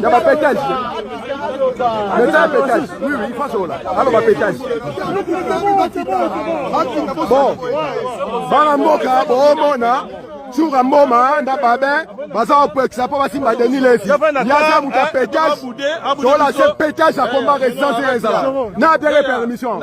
Daba petage. Leta petage. Oui, oui, face au là. Alors, ma petage. Bon. Bana mboka, bon, bon, hein. suka mboma nda babe baza kopekisa mpo basimba deni levi yaza moto ya petage tola se petage akomba residence ezala na biere permission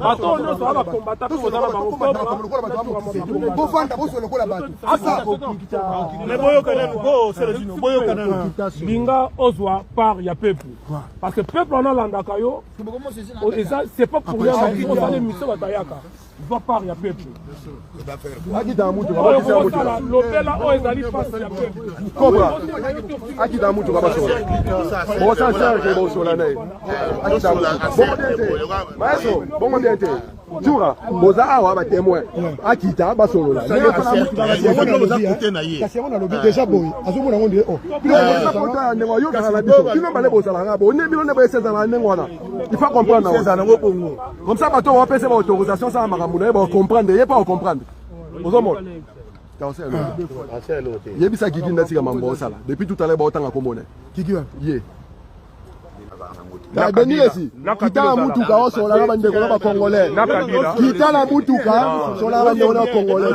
bato oyo nyonso aa bakombata mpe kozala bangobofanda boso lokola bato me boyokana go selesino boyokana na linga ozwa part ya peuple parce que peuple wana alandaka yo eza c'est pas pour rien ozala émission batayaka zwa part ya peuple akita mutuka bakisa mutuka lobela oyo ezali pasi ya peuple kobra akita mutuka basola bosa serge bosola naye akita maestro bongo bien te jura boza awa batemoin akita basolola kasi yango nalobi deja boye azomona yango ndie oota ya ndenge ayokaka na biso bino bale bozalaka bo nde bino nde boyesezalaka ndenge wana ifa comprendre Comme ça bato bapesa ba autorisation asala makambo na ye ba comprendre ye pa comprendre. Ozomona. yebisa kiki nde atika mambo osala depuis tout à l'heure baotanga komona kiki ye benilesi kitala mutuka osolaka bandeko na bacongolais kitala mutuka solaka bandeko na bacongolais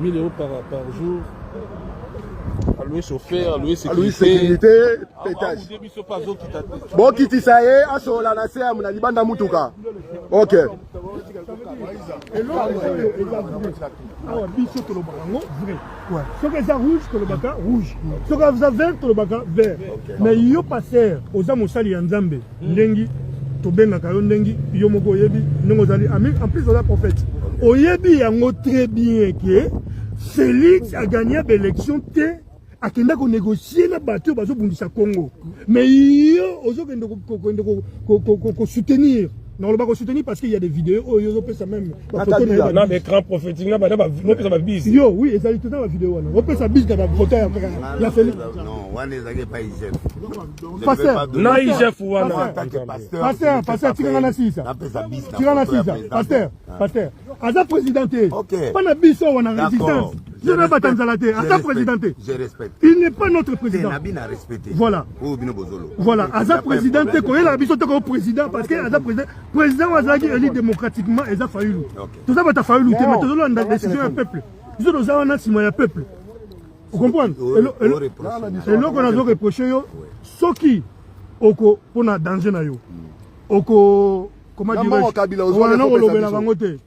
1000 euros par, par jour alue chauffeur alue sécurité petage bokitisa ye asolola na se na libanda mutuka ok awa biso tolobaka yango vrai soki eza rouge tolobaka rouge soki eza vert tolobaka vert mais yo paster oza mosali ya nzambe ndengi tobengaka yo ndengi yo moko oyebi ndenge ozali en plus oza prophète oyebi yango très bien ke félix agagna baélection te akenda konegocie na bato oyo bazobundisa congo mais yo ozokende kosoutenir nakoloba kosoutenir parce que ya des vidéos oyo ozopesa meme na kabila na ba écran prophétique na bana bopesa ba bis yo oui ezali toza ba video wana opesa bis na ba photo ya ya Felix non wana ezali epa IGF pasteur na IGF wana pasteur pasteur tikanga na sisa tikanga na sisa pasteur pasteur aza président te pana biso wana résistance je ne bata nzala te aza président te il n'est pas notre président voilà voilà aza président te koyela biso te ko président parce que aza président Président oyo azalaki élu démocratiquement eza Fayulu. Toza bata Fayulu te mais tozolanda décision ya peuple. Biso toza wana nsima ya peuple. Vous comprenez Eloko nazo reprocher yo soki oko pona danger na yo. Hmm. Oko comment dirais-je? Wana olobela bango te.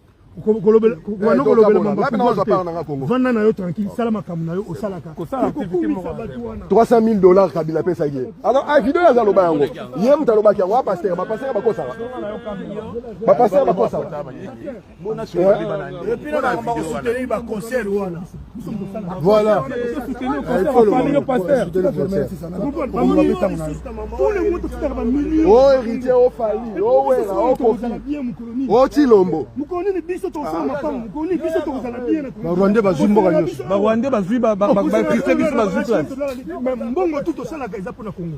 kolobela vanda na yo tranquille sala makambo na yo osalaka 3000 dollars kabila apesaki ye alors a ah, video aza loba yango ye moto alobaki yango apaster bapaster bakosaka bapaster bakosaka Voilà. Oh héritier, oh Fally, oh Wera, oh Kofi, oh Chilombo. Barwande bazwi mboka nyonso. Barwande bazwi ba ba ba ba Christian biso bazwi place. Mbongo tout osalaka eza pona Congo.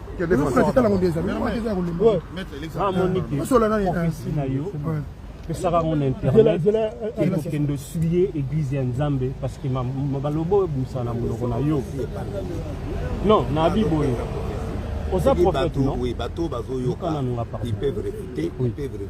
pesaka yango na internet ekokende osuye eglize ya nzambe parceke baloba oyo ebimisa na monoko na yo non na abi boye oza prophète non bato bazoyoka ils peuvent réfuter ils peuvent réfuter